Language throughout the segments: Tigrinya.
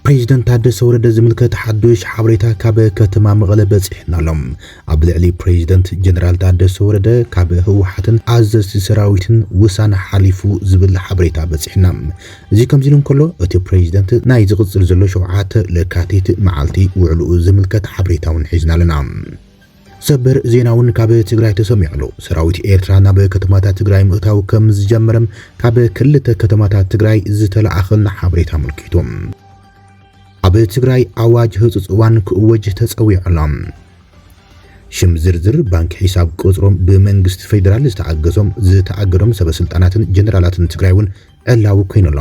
ፕሬዚደንት ታደሰ ወረደ ዝምልከት ሓዱሽ ሓበሬታ ካብ ከተማ መቐለ በፂሑና ኣሎ። ኣብ ልዕሊ ፕሬዚደንት ጀነራል ታደሰ ወረደ ካብ ህወሓትን ኣዘዝቲ ሰራዊትን ውሳነ ሓሊፉ ዝብል ሓበሬታ በፂሑና። እዚ ከምዚ ኢሉ እንከሎ እቲ ፕሬዚደንት ናይ ዝቕፅል ዘሎ ሸውዓተ ለካቲት መዓልቲ ውዕልኡ ዝምልከት ሓበሬታ እውን ሒዝና ኣለና። ሰበር ዜና እውን ካብ ትግራይ ተሰሚዑ ኣሎ። ሰራዊት ኤርትራ ናብ ከተማታት ትግራይ ምእታው ከምዝጀመረ ካብ ክልተ ከተማታት ትግራይ ዝተለኣኸልና ሓበሬታ ኣመልኪቱ። ኣብ ትግራይ ኣዋጅ ህጹጽ እዋን ክእወጅ ተጸዊዑ ኣሎ። ሽም ዝርዝር ባንኪ ሒሳብ ቁጽሮም ብመንግስቲ ፌደራል ዝተኣገሶም ዝተኣገዶም ሰበስልጣናትን ጀነራላትን ትግራይ እውን ዕላዊ ኮይኑ ኣሎ።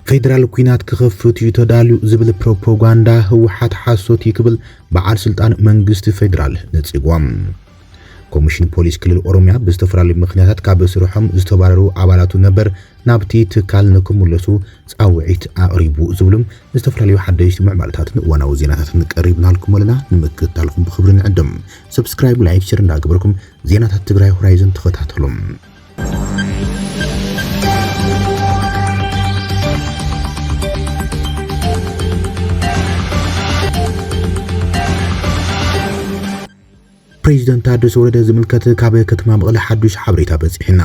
ፌደራል ኩናት ክኸፍት እዩ ተዳልዩ ዝብል ፕሮፓጋንዳ ህወሓት ሓሶት እዩ ክብል በዓል ስልጣን መንግስቲ ፌደራል ነጺጎም። ኮሚሽን ፖሊስ ክልል ኦሮሚያ ብዝተፈላለዩ ምኽንያታት ካብ ስርሖም ዝተባረሩ ኣባላቱ ነበር ናብቲ ትካል ንክምለሱ ፃውዒት ኣቕሪቡ ዝብሉም ዝተፈላለዩ ሓደሽቲ ምዕባለታትን እዋናዊ ዜናታትን ቀሪብናልኩም ኣለና። ንምክትታልኩም ብክብሪ ንዕድም። ሰብስክራይብ፣ ላይክ፣ ሸር እንዳገበርኩም ዜናታት ትግራይ ሆራይዘን ተኸታተሉም። ፕሬዚደንት ታደሰ ወረደ ዝምልከት ካብ ከተማ መቐለ ሓዱሽ ሓበሬታ በፂሑና።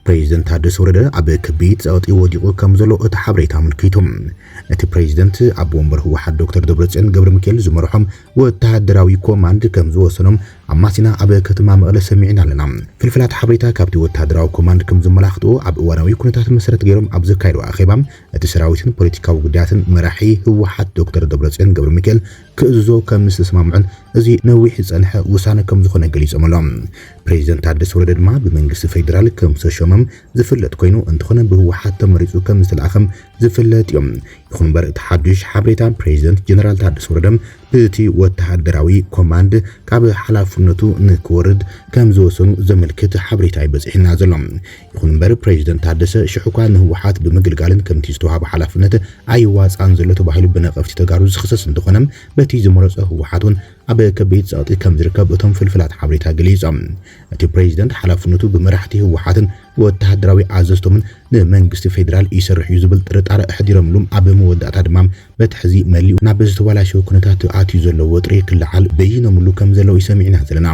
ፕሬዚደንት ታደሰ ወረደ ኣብ ከቢድ ፀቕጢ ወዲቑ ከምዘሎ እቲ ሓበሬታ ኣመልኪቱ። እቲ ፕሬዚደንት ኣቦ ወንበር ህወሓት ዶክተር ደብረፅዮን ገብረሚካኤል ዝመርሖም ወታደራዊ ኮማንድ ከምዝወሰኖም ኣማሲና ኣብ ከተማ መቐለ ሰሚዕና ኣለና። ፍልፍላት ሓበሬታ ካብቲ ወታደራዊ ኮማንድ ከምዘመላኽትኦ ኣብ እዋናዊ ኩነታት መሰረት ገይሮም ኣብ ዘካየድዎ ኣኼባ እቲ ሰራዊትን ፖለቲካዊ ጉዳያትን መራሒ ህወሓት ዶክተር ደብረፅዮን ገብረሚካኤል ክእዝዞ ከም ምስተስማምዑን እዚ ነዊሕ ዝጸንሐ ውሳነ ከም ዝኾነ ገሊጾም ኣሎም። ፕሬዚደንት ታደሰ ወረደ ድማ ብመንግስቲ ፌዴራል ከም ዝተሾመም ዝፍለጥ ኮይኑ እንተኾነ ብህወሓት ተመሪፁ ከም ዝተልኣኸም ዝፍለጥ እዩ። ይኹን እምበር እቲ ሓዱሽ ሓበሬታ ፕሬዚደንት ጀነራል ታደሰ ወረደ ብእቲ ወተሃደራዊ ኮማንድ ካብ ሓላፍነቱ ንክወርድ ከም ዝወሰኑ ዘመልክት ሓበሬታ እዩ በፂሑና ዘሎ። ይኹን እምበር ፕረዚደንት ታደሰ ሽሕ'ኳ ንህወሓት ብምግልጋልን ከምቲ ዝተውሃቦ ሓላፍነት ኣይዋፅኣን ዘሎ ተባሂሉ ብነቐፍቲ ተጋሩ ዝኽሰስ እንተኾነ በቲ ዝመረፆ ህወሓት ውን ኣብ ከቢድ ፀቕጢ ከምዝርከብ እቶም ፍልፍላት ሓበሬታ ገሊፆም። እቲ ፕረዚደንት ሓላፍነቱ ብመራሕቲ ህወሓትን ወታሃደራዊ ኣዘዝቶምን ንመንግስቲ ፌዴራል ይሰርሕ ዩ ዝብል ጥርጣረ ኣሕዲሮምሉ ኣብ መወዳእታ ድማ በቲ ሕዚ መሊኡ ናብ ዝተባላሸወ ኩነታት ኣትዩ ዘሎ ወጥሪ ክለዓል በይኖምሉ ከምዘለዉ እዩ ሰሚዕና ዘለና።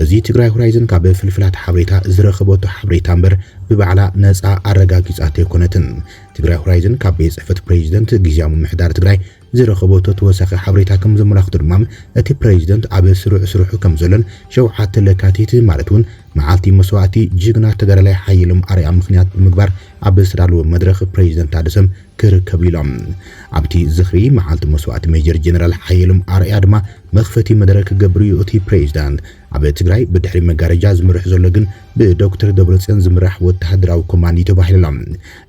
እዚ ትግራይ ሆራይዘን ካብ ፍልፍላት ሓበሬታ ዝረኸበቶ ሓበሬታ እምበር ብባዕላ ነፃ ኣረጋጊፃቶ ኣይኮነትን። ትግራይ ሆራይዘን ካብ ቤት ፅሕፈት ፕሬዚደንት ግዝያዊ ምምሕዳር ትግራይ ዝረኸበቶ ተወሳኺ ሓበሬታ ከምዘመላኽቶ ድማ እቲ ፕሬዚደንት ኣብ ስሩዕ ስርሑ ከምዘሎን ሸውዓተ ለካቲት ማለት እውን መዓልቲ መስዋእቲ ጅግና ተጋዳላይ ሓየሎም ኣርኣያ ምኽንያት ብምግባር ኣብ ዝተዳለወ መድረኽ ፕሬዚደንት ኣደሰም ክርከቡ ኢሎም። ኣብቲ ዝኽሪ መዓልቲ መስዋእቲ ሜጀር ጀነራል ሓየሎም ኣርኣያ ድማ መኽፈቲ መደረ ክገብር እዩ እቲ ፕሬዚዳንት። ኣብ ትግራይ ብድሕሪ መጋረጃ ዝምርሕ ዘሎ ግን ብዶክተር ደብረፅዮን ዝምራሕ ወታሃደራዊ ኮማንድ እዩ ተባሂሉ ኣሎ።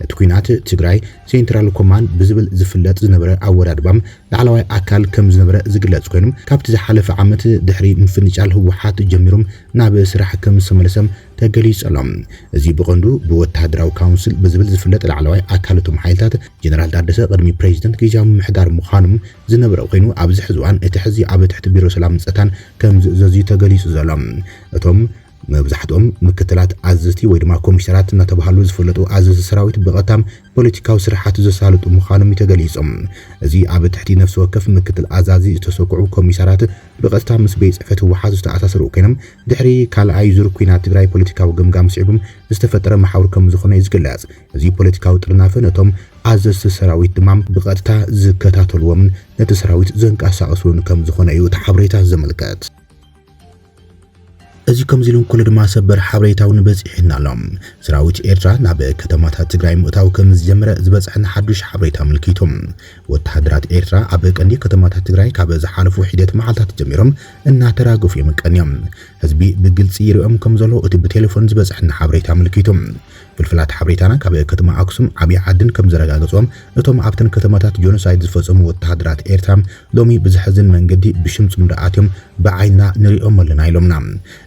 እቲ ኲናት ትግራይ ሴንትራል ኮማንድ ብዝብል ዝፍለጥ ዝነበረ ኣወዳድባም ላዕለዋይ ኣካል ከምዝነበረ ዝግለፅ ኮይኑ ካብቲ ዝሓለፈ ዓመት ድሕሪ ምፍንጫል ህወሓት ጀሚሩም ናብ ስራሕ ከምዝተመለሰ ተገሊጹ'ሎ። እዚ ብቐንዱ ብወተሃደራዊ ካውንስል ብዝብል ዝፍለጥ ላዕለዋይ ኣካል እቶም ሓይልታት፣ ጀነራል ታደሰ ቅድሚ ፕረዚደንት ግዝያዊ ምምሕዳር ምዃኑ ዝነበረ ኮይኑ፣ ኣብዚ ሕዚ እዋን እቲ ሕዚ ኣብ ትሕቲ ቢሮ ሰላምን ጸጥታን ከምዝእዘዝ'ዩ ተገሊጹ ዘሎ። እቶም መብዛሕትኦም ምክትላት ኣዘዝቲ ወይ ድማ ኮሚሳራት እናተባህሉ ዝፍለጡ ኣዘዝቲ ሰራዊት ብቐጥታ ፖለቲካዊ ስርሓት ዘሳልጡ ምዃኖም'ዩ ተገሊጹ። እዚ ኣብ ትሕቲ ነፍሲ ወከፍ ምክትል ኣዛዚ ዝተሰኩዑ ኮሚሳራት ብቐጥታ ምስ ቤት ጽሕፈት ህወሓት ዝተኣሳሰሩ ኮይኖም፣ ድሕሪ ካልኣይ ዙር ኲናት ትግራይ ፖለቲካዊ ገምጋም ስዒቡ ዝተፈጠረ መሓውር ከምዝኾነ'ዩ ዝግለጽ። እዚ ፖለቲካዊ ጥርናፈ ነቶም ኣዘዝቲ ሰራዊት ድማ ብቐጥታ ዝከታተሉዎምን ነቲ ሰራዊት ዘንቀሳቕሱን ከምዝኾነ'ዩ እቲ ሓበሬታ ዘመልከት። እዚ ከምዚ ኢሉ እንከሎ ድማ ሰበር ሓበሬታ'ውን በጺሑና ኣሎ። ሰራዊት ኤርትራ ናብ ከተማታት ትግራይ ምእታው ከምዝጀመረ ዝበጽሐና ሓዱሽ ሓበሬታ ኣመልኪቱ፣ ወተሃደራት ኤርትራ ኣብ ቀንዲ ከተማታት ትግራይ ካብ ዝሓለፉ ሒደት መዓልታት ጀሚሮም፣ እናተራገፉ እዮም ቀንዮም። ህዝቢ ብግልፂ ይሪኦም ከም ዘሎ እቲ ብቴሌፎን ዝበፀሐና ሓበሬታ ኣመልኪቱ። ፍልፍላት ሓበሬታና ካብ ከተማ ኣክሱም ዓብይ ዓድን ከም ዘረጋገፆ እቶም ኣብተን ከተማታት ጆኖሳይድ ዝፈፀሙ ወተሃደራት ኤርትራ ሎሚ ብዘሕዝን መንገዲ ብሽም ፅምዶ ኣትዮም ብዓይንና ንሪኦም ኣለና ኢሎምና።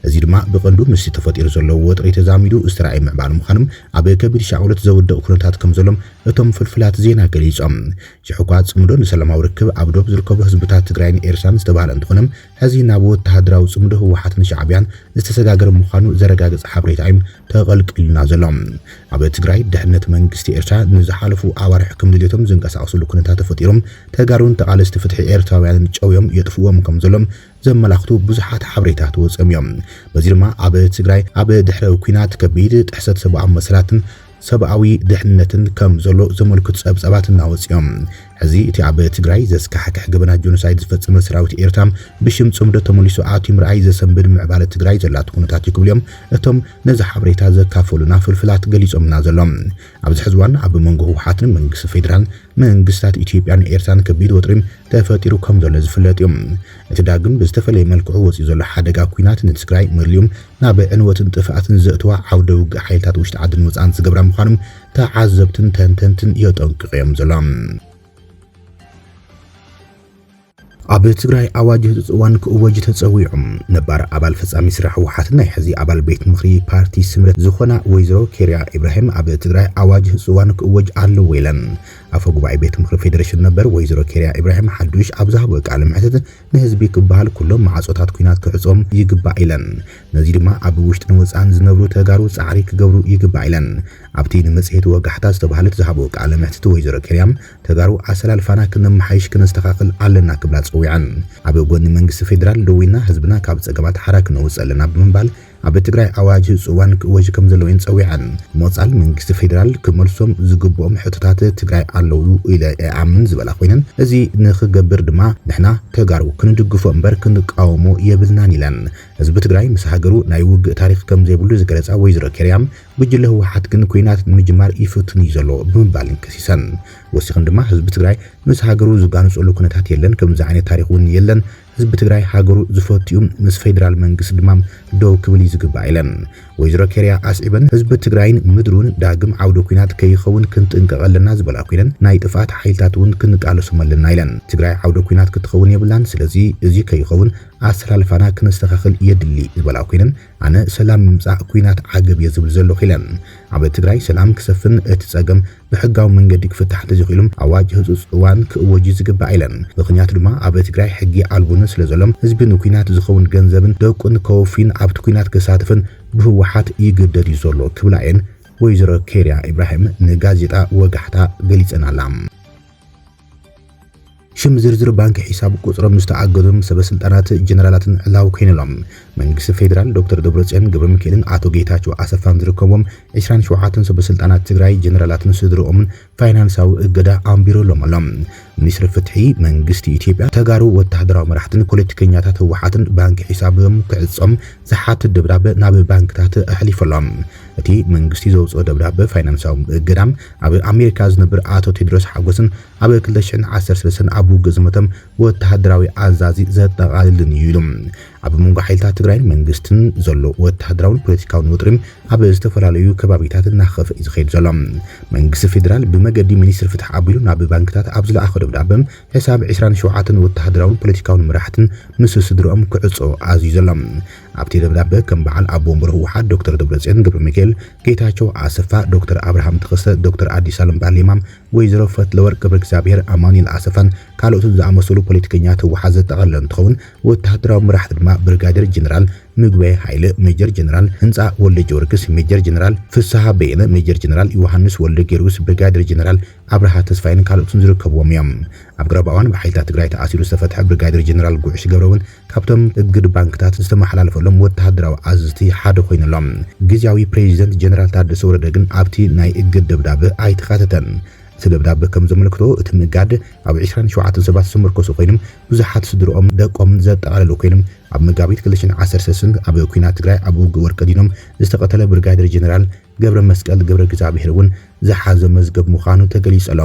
እዚ ድማ ብቐንዱ ምስቲ ተፈጢሩ ዘሎ ወጥሪ ተዛሚዱ ዝተራእየ ምዕባለ ምዃኑ ኣብ ከቢድ ሻቕሎት ዘውድቕ ኩነታት ከም ዘሎም እቶም ፍልፍላት ዜና ገሊፆም። ዝሕጓ ጽምዶ ንሰላማዊ ርክብ ኣብ ዶብ ዝርከቡ ህዝብታት ትግራይን ኤርትራን ዝተባህለ እንተኾነ ሐዚ ናብ ወተሃደራዊ ጽምዶ ህወሓትን ሻዕቢያን ዝተሰጋገረ ምዃኑ ዘረጋግጽ ሓበሬታ እዩ ተቐልቂሉና ዘሎ። ኣብ ትግራይ ድሕነት መንግስቲ ኤርትራ ንዝሓለፉ ኣዋርሕ ከም ድልየቶም ዝንቀሳቐስሉ ኩነታት ተፈጢሩ ተጋሩን ተቓለስቲ ፍትሒ ኤርትራውያንን ጨውዮም የጥፍእዎም ከም ዘሎ ዘመላኽቱ ብዙሓት ሓበሬታት ወጺኦም እዮም። በዚ ድማ ኣብ ትግራይ ኣብ ድሕረ ኲናት ከቢድ ጥሕሰት ሰብኣዊ መሰላትን ሰብኣዊ ድሕንነትን ከም ዘሎ ዘመልክቱ ጸብጻባት እናወጽኡ'ዮም። ሕዚ እቲ ኣብ ትግራይ ዘስካሕክሕ ገበናት ጆኖሳይድ ዝፈጸመ ሰራዊት ኤርትራ ብሽም ጽምዶ ተመሊሱ ኣትዩ ምርኣይ ዘሰንብድ ምዕባለ ትግራይ ዘላቶ ኩነታት'ዩ ክብሉ'ዮም እቶም ነዚ ሓበሬታ ዘካፈሉና ፍልፍላት ገሊጾምልና ዘሎም። ኣብዚ ሕዚ እዋን ኣብ መንጎ ህወሓትን መንግስቲ ፌደራል መንግስታት ኢትዮጵያን ኤርትራን ከቢድ ወጥሪ ተፈጢሩ ከም ዘሎ ዝፍለጥ እዩ። እቲ ዳግም ብዝተፈለየ መልክዑ ወጺኡ ዘሎ ሓደጋ ኲናት ንትግራይ መሊኡ ናብ ዕንወትን ጥፍኣትን ዘእትዋ ዓውደ ውግእ ሓይልታት ውሽጢ ዓድን ወጻእን ዝገብራ ምዃኑ ተዓዘብትን ተንተንትን የጠንቅቑ እዮም ዘሎም። ኣብ ትግራይ ኣዋጅ ህፁፅ እዋን ክእወጅ ተፀዊዑ። ነባር ኣባል ፈፃሚ ስራሕ ህወሓትን ናይ ሕዚ ኣባል ቤት ምኽሪ ፓርቲ ስምረት ዝኾና ወይዘሮ ኬሪያ ኢብራሂም ኣብ ትግራይ ኣዋጅ ህፁፅ እዋን ክእወጅ ኣለዎ ኢለን። ኣፈ ጉባኤ ቤት ምኽሪ ፌዴሬሽን ነበር ወይዘሮ ኬሪያ ኢብራሂም ሓዱሽ ኣብ ዝሃብኦ ቃለ መሕትት ንህዝቢ ክበሃል ኩሎም ማዕፆታት ኲናት ክዕፆም ይግባእ ኢለን። ነዙይ ድማ ኣብ ውሽጥን ወፃእን ዝነብሩ ተጋሩ ፃዕሪ ክገብሩ ይግባእ ኢለን። ኣብቲ ንመፅሄት ወጋሕታ ዝተብሃለት ዝሃብኦ ቃለ መሕትት ወይዘሮ ኬሪያ ተጋሩ ኣሰላልፋና ክነመሓይሽ ክነስተኻኽል ኣለና ክብላ ፀዊዐን። ኣብ ጎኒ መንግስቲ ፌዴራል ደዊና ህዝብና ካብ ፀገማት ሓራ ክነውፅእ ኣለና ብምባል ኣብ ትግራይ ኣዋጅ ፅዋን ክእወጅ ከምዘለዎ እየን ፀዊዐን። ሞፃል መንግስቲ ፌዴራል ክመልሶም ዝግብኦም ሕቶታት ትግራይ ኣለው ኢለ እኣምን ዝበላ ኮይነን እዚ ንክገብር ድማ ንሕና ተጋሩ ክንድግፎ እምበር ክንቃወሞ የብልናን ኢለን። ህዝቢ ትግራይ ምስ ሃገሩ ናይ ውግእ ታሪኽ ከምዘይብሉ ዝገለፃ ወይዘሮ ኬርያ ጉጅለ ህወሓት ግን ኲናት ንምጅማር ይፍትን እዩ ዘሎ ብምባልን ከሲሰን። ወሲኽን ድማ ህዝቢ ትግራይ ምስ ሃገሩ ዝጋነፀሉ ኩነታት የለን፣ ከምዚ ዓይነት ታሪኽ እውን የለን፣ ህዝቢ ትግራይ ሃገሩ ዝፈቱ እዩ፣ ምስ ፌዴራል መንግስቲ ድማ ደው ክብል እዩ ዝግባእ ኢለን። ወይዘሮ ኬርያ ኣስዒበን ህዝቢ ትግራይን ምድሩን ዳግም ዓውደ ኲናት ከይኸውን ክንጥንቀቕ ኣለና ዝበላ ኰይነን ናይ ጥፍኣት ሓይልታት እውን ክንቃለሶም ኣለና ኢለን። ትግራይ ዓውደ ኲናት ክትኸውን የብላን፣ ስለዚ እዚ ከይኸውን ኣሰላልፋና ክነስተኻኽል የድሊ ዝበላ ኰይነን፣ ኣነ ሰላም ምምጻእ ኩናት ዓገብ እየ ዝብል ዘለኹ ኢለ። ኣብ ትግራይ ሰላም ክሰፍን እቲ ጸገም ብሕጋዊ መንገዲ ክፍታሕ እንተዘይኽኢሉ ኣዋጅ ህጹጽ እዋን ክእወጅ እዩ ዝግባእ ኢለ። ምኽንያቱ ድማ ኣብ ትግራይ ሕጊ ኣልቦነት ስለዘሎ ህዝቢ ንኩናት ዝኸውን ገንዘብን ደቁን ከወፍይን ኣብቲ ኩናት ክሳተፍን ብህወሓት ይግደድ እዩ ዘሎ ክብላ እየን ወይዘሮ ኬርያ ኢብራሂም ንጋዜጣ ወጋሕታ ገሊጸናላ። ሽም ዝርዝር ባንኪ ሒሳብ ቁፅሮም ዝተኣገዱን ሰበስልጣናት ጀነራላትን ዕላዊ ኮይኑሎም መንግስቲ ፌዴራል ዶክተር ደብረፅዮን ገብረሚካኤልን ኣቶ ጌታቸው ኣሰፋን ዝርከብዎም ዕስራን ሸውዓተን ሰበስልጣናት ትግራይ ጀነራላትን ስድርኦምን ፋይናንሳዊ እገዳ ኣንቢሩሎም ኣሎ። ሚኒስትሪ ፍትሒ መንግስቲ ኢትዮጵያ ተጋሩ ወታሃደራዊ መራሕትን ፖለቲከኛታት ህወሓትን ባንኪ ሒሳብም ክዕፆም ዝሓትት ደብዳበ ናብ ባንክታት ኣሕሊፉ ኣሎ። እቲ መንግስቲ ዘውፅኦ ደብዳበ ፋይናንሳዊ እገዳ ኣብ ኣሜሪካ ዝነብር ኣቶ ቴድሮስ ሓጎስን ኣብ ክልተ ሽሕን ዓሰርተ ሰለስተን ኣብ ውግእ ዝሞተም ወተሃደራዊ ኣዛዚ ዘጠቓልልን እዩ ኢሉ። ኣብ መንጎ ሓይልታት ትግራይን መንግስትን ዘሎ ወተሃደራውን ፖለቲካውን ወጥሪ ኣብ ዝተፈላለዩ ከባቢታት እናኸፍኣ እዩ ዝኸይድ ዘሎ። መንግስቲ ፌደራል ብመገዲ ሚኒስትሪ ፍትሒ ኣቢሉ ናብ ባንክታት ኣብ ዝለኣኾ ደብዳበ ሕሳብ ዕስራን ሸውዓተን ወተሃደራውን ፖለቲካውን መራሕትን ምስ ስድርኦም ክዕጾ ኣዚዙ ኣሎ። ኣብቲ ደብዳበ ከም በዓል ኣቦ ወንበር ህወሓት ዶክተር ደብረጽዮን ገብረሚካኤል፣ ጌታቸው ኣሰፋ፣ ዶክተር ኣብርሃም ተኸስተ፣ ዶክተር ኣዲሳለም ባሌማ፣ ወይዘሮ ፈትለወርቅ ገብረእግዚኣብሄር፣ ኣማኑኤል ኣሰፋን ካልኦትን ዝኣመሰሉ ፖለቲከኛታት ህወሓት ዘጠቓለለ እንትኸውን፣ ወተሃደራዊ መራሕቲ ድማ ብርጋዴር ጀነራል ምግበይ ሃይለ፣ ሜጀር ጀነራል ህንፃ ወልደጀወርግስ፣ ሜጀር ጀነራል ፍስሃ በየነ፣ ሜጀር ጀነራል ዮሃንስ ወልደጊዮርግስ፣ ብርጋዴር ጀነራል ኣብርሃ ተስፋይን ካልኦትን ዝርከብዎም እዮም። ኣብ ቀረባ እዋን ብሓይልታት ትግራይ ተኣሲሩ ዝተፈትሐ ብርጋዴር ጀነራል ጉዕሽ ገብረ እውን ካብቶም እግድ ባንክታት ዝተመሓላለፈሎም ወተሃደራዊ ኣዘዝቲ ሓደ ኮይኑ ኣሎ። ግዝያዊ ፕረዚደንት ጀነራል ታደሰ ወረደ ግን ኣብቲ ናይ እግድ ደብዳበ ኣይተኻተተን። እቲ ደብዳበ ከም ዘመልክቶ እቲ ምእጋድ ኣብ ዕስራን ሸውዓተን ሰባት ዝተመርኮሰ ኮይኑ ብዙሓት ስድርኦምን ደቆምን ዘጠቓለለ ኮይኑ ኣብ መጋቢት ክልተ ሽሕን ዓሰርተ ሰስን ኣብ ኲናት ትግራይ ኣብ ውግእ ወርቀዲኖም ዝተቐተለ ብርጋዴር ጀነራል ገብረመስቀል ገብረእግዚኣብሄር እውን ዝሓዞ መዝገብ ምዃኑ ተገሊጹ ኣሎ።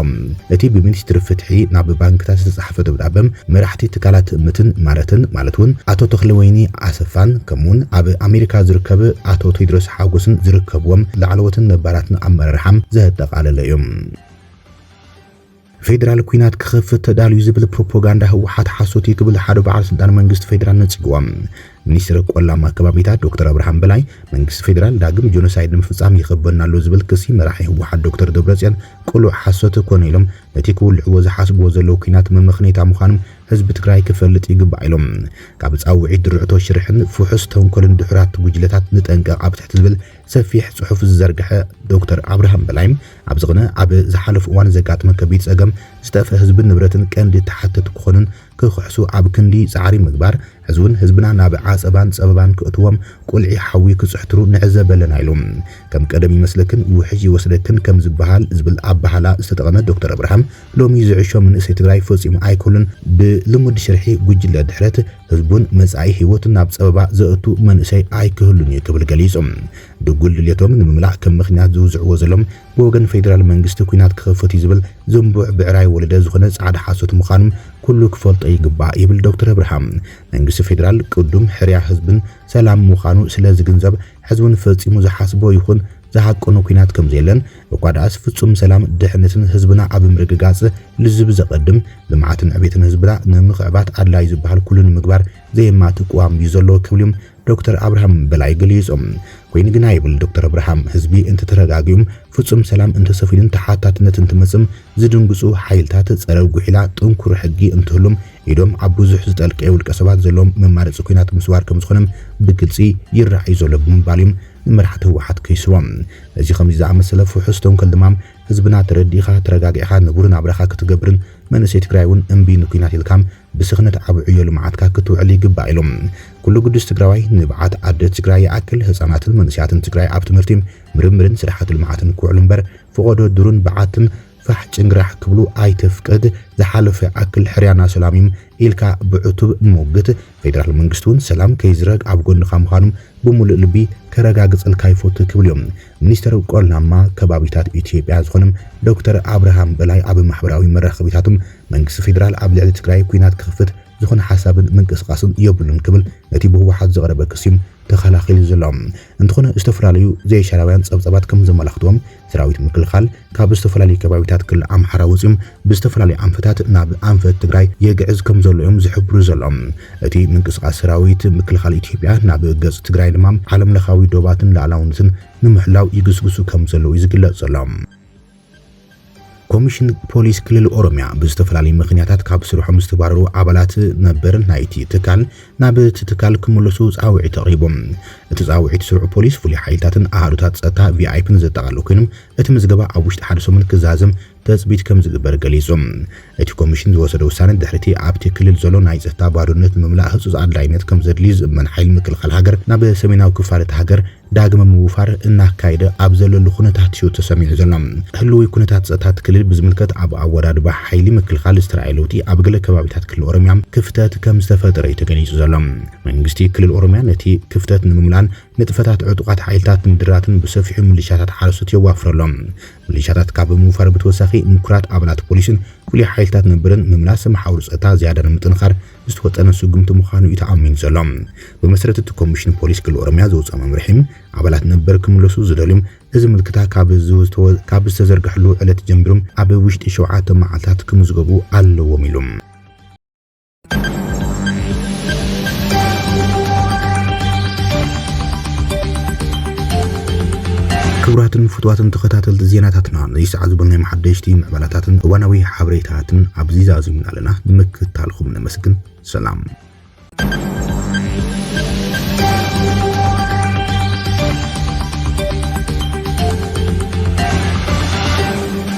እቲ ብሚኒስትሪ ፍትሒ ናብ ባንክታት ዝተጻሕፈ ደብዳበ፣ መራሕቲ ትካላት ትእምትን ማረትን ማለት እውን ኣቶ ተኽለወይኒ ኣሰፋን ከምኡ'ውን ኣብ ኣሜሪካ ዝርከብ ኣቶ ቴድሮስ ሓጎስን ዝርከብዎም ላዕለዎትን ነባራትን ኣመራርሓ ዘጠቓለለ እዩ። ፌደራል ኩናት ክኸፍት ተዳልዩ ዝብል ፕሮፖጋንዳ ህወሓት ሓሶት እዩ ክብል ሓደ በዓል ስልጣን መንግስቲ ፌደራል ነጺግዎ። ሚኒስትር ቆላማ ከባቢታት ዶክተር ኣብርሃም በላይ መንግስቲ ፌደራል ዳግም ጆኖሳይድ ንምፍጻም ይኸበና ኣሎ ዝብል ክሲ መራሒ ህወሓት ዶክተር ደብረጽዮን ቅሉዕ ሓሶት ኮነ ኢሎም ነቲ ክውልዕዎ ዝሓስብዎ ዘለዉ ኩናት መመኽነይታ ምዃኑ ህዝቢ ትግራይ ክፈልጥ ይግባእ ኢሎም። ካብ ጻውዒት ድርዕቶ ሽርሕን ፍሑስ ተንኮልን ድሑራት ጉጅለታት ንጠንቀቕ ኣብ ትሕቲ ዝብል ሰፊሕ ጽሑፍ ዝዘርግሐ ዶክተር ኣብርሃም በላይ ኣብዚ ቅነ ኣብ ዝሓለፉ እዋን ዘጋጥመ ከቢድ ጸገም ዝጠፍእ ህዝብን ንብረትን ቀንዲ ተሓተቲ ክኾኑን ክኽሕሱ ኣብ ክንዲ ጻዕሪ ምግባር ሕዚ ውን ህዝብና ናብ ዓጸባን ጸበባን ክእትዎም ቁልዒ ሓዊ ክጽሕትሩ ንዕዘብ ኣለና ኢሉ ከም ቀደም ይመስለክን ውሕጅ ይወስደክን ከም ዝበሃል ዝብል ኣበሃህላ ዝተጠቐመ ዶክተር ኣብርሃም ሎሚ ዝዕሾ መንእሰይ ትግራይ ፈጺሙ ኣይክህሉን ብልሙድ ሽርሒ ጉጅለ ድሕረት ህዝቡን መጻኢ ህይወቱን ናብ ጸበባ ዘእቱ መንእሰይ ኣይክህሉን እዩ ክብል ገሊጹ። ድጉል ድልየቶም ንምምላእ ከም ምኽንያት ዝውዝዕዎ ዘሎም ብወገን ፌዴራል መንግስቲ ኩናት ክኽፈት እዩ ዝብል ዝንቡዕ ብዕራይ ወለደ ዝኾነ ፃዕዳ ሓሶት ምዃኑም ኩሉ ክፈልጦ ይግባእ ይብል ዶክተር ኣብርሃም። መንግስቲ ፌዴራል ቅዱም ሕርያ ህዝብን ሰላም ምዃኑ ስለ ዝግንዘብ ሕዝውን ፈፂሙ ዝሓስቦ ይኹን ዝሃቀኖ ኩናት ከም ዘየለን እኳ ድኣስ ፍፁም ሰላም ድሕነትን ህዝብና ኣብ ምርግጋፅ ልዝብ ዘቐድም ልምዓትን ዕቤትን ህዝብና ንምኽዕባት ኣድላይ ዝበሃል ኩሉ ንምግባር ዘየማትእ ቅዋም እዩ ዘሎ ክብሉም ዶክተር ኣብርሃም በላይ ገሊፆም። ኮይኑ ግና ይብል ዶክተር ኣብርሃም፣ ህዝቢ እንተተረጋጊኡም ፍፁም ሰላም እንተሰፊኑን ተሓታትነት እንትመፅም ዝድንግፁ ሓይልታት ፀረ ጉሒላ ጥንኩር ሕጊ እንትህሉም ኢዶም ኣብ ብዙሕ ዝጠልቀየ ውልቀሰባት ዘለዎም መማረፂ ኩናት ምስባር ከምዝኾነም ብግልፂ ይረኣ ዩ ዘሎ ብምባል ዮም ንመራሕቲ ህወሓት ከይስዎም እዚ ከምዚ ዝኣመሰለ ፍሑስ ተንኮል ድማ ህዝብና ተረዲእኻ ተረጋጊዕኻ ንቡር ናብራኻ ክትገብርን መንእሰይ ትግራይ ውን እምቢ ንኩናት ኢልካም ብስኽነት ኣብ ዕዮ ልምዓትካ ክትውዕል ይግባእ ኢሎም። ኩሉ ግዱስ ትግራዋይ ንብዓት ኣደ ትግራይ ይኣክል፣ ህፃናትን መንእሰያትን ትግራይ ኣብ ትምህርቲ፣ ምርምርን ስራሕቲ ልምዓትን ክውዕሉ እምበር ፎቖዶ ዱርን በዓትን ፋሕ ጭንግራሕ ክብሉ ኣይተፍቅድ፣ ዝሓለፎ ይኣክል ሕርያና ሰላም እዩ ኢልካ ብዕቱብ ሞግት፣ ፌደራል መንግስቲ እውን ሰላም ከይዝረግ ኣብ ጎንኻ ምዃኑ ብሙሉእ ልቢ ከረጋግፀልካ ይፎቱ ክብሉ እዮም። ሚኒስትር ቆላማ ከባቢታት ኢትዮጵያ ዝኾኑ ዶክተር ኣብርሃም በላይ ኣብ ማሕበራዊ መራኸቢታቶም መንግስቲ ፌደራል ኣብ ልዕሊ ትግራይ ኲናት ክኽፍት ዝኾነ ሓሳብን ምንቅስቓስን የብሉን ክብል ነቲ ብህወሓት ዝቐረበ ክሲ ተኸላኺሉ ዘሎ እንትኾነ ዝተፈላለዩ ዘይሻራውያን ፀብፃባት ከምዘመላኽትዎም ሰራዊት ምክልኻል ካብ ዝተፈላለዩ ከባቢታት ክልል ኣምሓራ ወፂኦም ብዝተፈላለዩ ኣንፈታት ናብ ኣንፈት ትግራይ የግዕዝ ከምዘሎ'ዮም ዝሕብሩ ዘሎም። እቲ ምንቅስቓስ ሰራዊት ምክልኻል ኢትዮጵያ ናብ ገፅ ትግራይ ድማ ዓለምለኻዊ ዶባትን ልኣላውነትን ንምሕላው ይግስግሱ ከምዘለዉ'ዩ ዝግለፅ ዘሎ። ኮሚሽን ፖሊስ ክልል ኦሮሚያ ብዝተፈላለዩ ምኽንያታት ካብ ስርሖም ዝተባረሩ ኣባላት ነበር ናይቲ ትካል ናብ'ቲ ትካል ክምለሱ ፃውዒት ኣቕሪቡ። እቲ ፃውዒት ስሩዕ ፖሊስ፣ ፍሉይ ሓይልታትን ኣሃዱታት ፀጥታ ቪኣይፒን ዘጠቓልል ኮይኑ እቲ ምዝገባ ኣብ ውሽጢ ሓደ ሰሙን ክዛዘም ትፅቢት ከምዝግበር ገሊፁ። እቲ ኮሚሽን ዝወሰዶ ውሳነ ድሕሪ'ቲ ኣብቲ ክልል ዘሎ ናይ ፀጥታ ባዶነት ንምምላእ ህፁፅ ኣድላይነት ከምዘድልዩ ዝእመን ሓይሊ ምክልኻል ሃገር ናብ ሰሜናዊ ክፋል እታ ሃገር ዳግመ ምውፋር እናካየደ ኣብ ዘለሉ ኩነታት'ዩ ተሰሚዑ ዘሎ። ህልዊ ኩነታት ፀጥታ እቲ ክልል ብዝምልከት ኣብ ኣወዳድባ ሓይሊ ምክልኻል ዝተርኣየ ለውጢ ኣብ ገለ ከባቢታት ክልል ኦሮሚያ ክፍተት ከምዝተፈጠረ'ዩ ተገሊፁ ዘሎ። መንግስቲ ክልል ኦሮሚያ ነቲ ክፍተት ንምምላእን ንጥፈታት ዕጡቓት ሓይልታት ንምድራትን ብሰፊሑ ምልሻታት ሓረስቶት የዋፍረሎም። ምልሻታት ካብ ምውፋር ብተወሳኺ ምኩራት ኣባላት ፖሊስን ፍሉይ ሓይልታት ነብርን ምምላስ መሓውር ፀጥታ ዝያዳ ንምጥንኻር ዝተወጠነ ስጉምቲ ምዃኑ እዩ ተኣሚኑ ዘሎ። ብመሰረት እቲ ኮሚሽን ፖሊስ ክልል ኦሮሚያ ዘውፀኦ መምርሒ ኣባላት ነበር ክምለሱ ዝደልዩ እዚ ምልክታ ካብ ዝተዘርገሐሉ ዕለት ጀሚሩ ኣብ ውሽጢ ሸውዓተ መዓልታት ክምዝገቡ ኣለዎም ኢሉ። ክቡራትን ፍትዋትን ተኸታተልቲ ዜናታትና ነዚ ሰዓት ዝበልናይ መሓደሽቲ ምዕባላታትን እዋናዊ ሓበሬታትን ኣብዚ ዛዚምና ኣለና ንምክትታልኹም ነመስግን ሰላም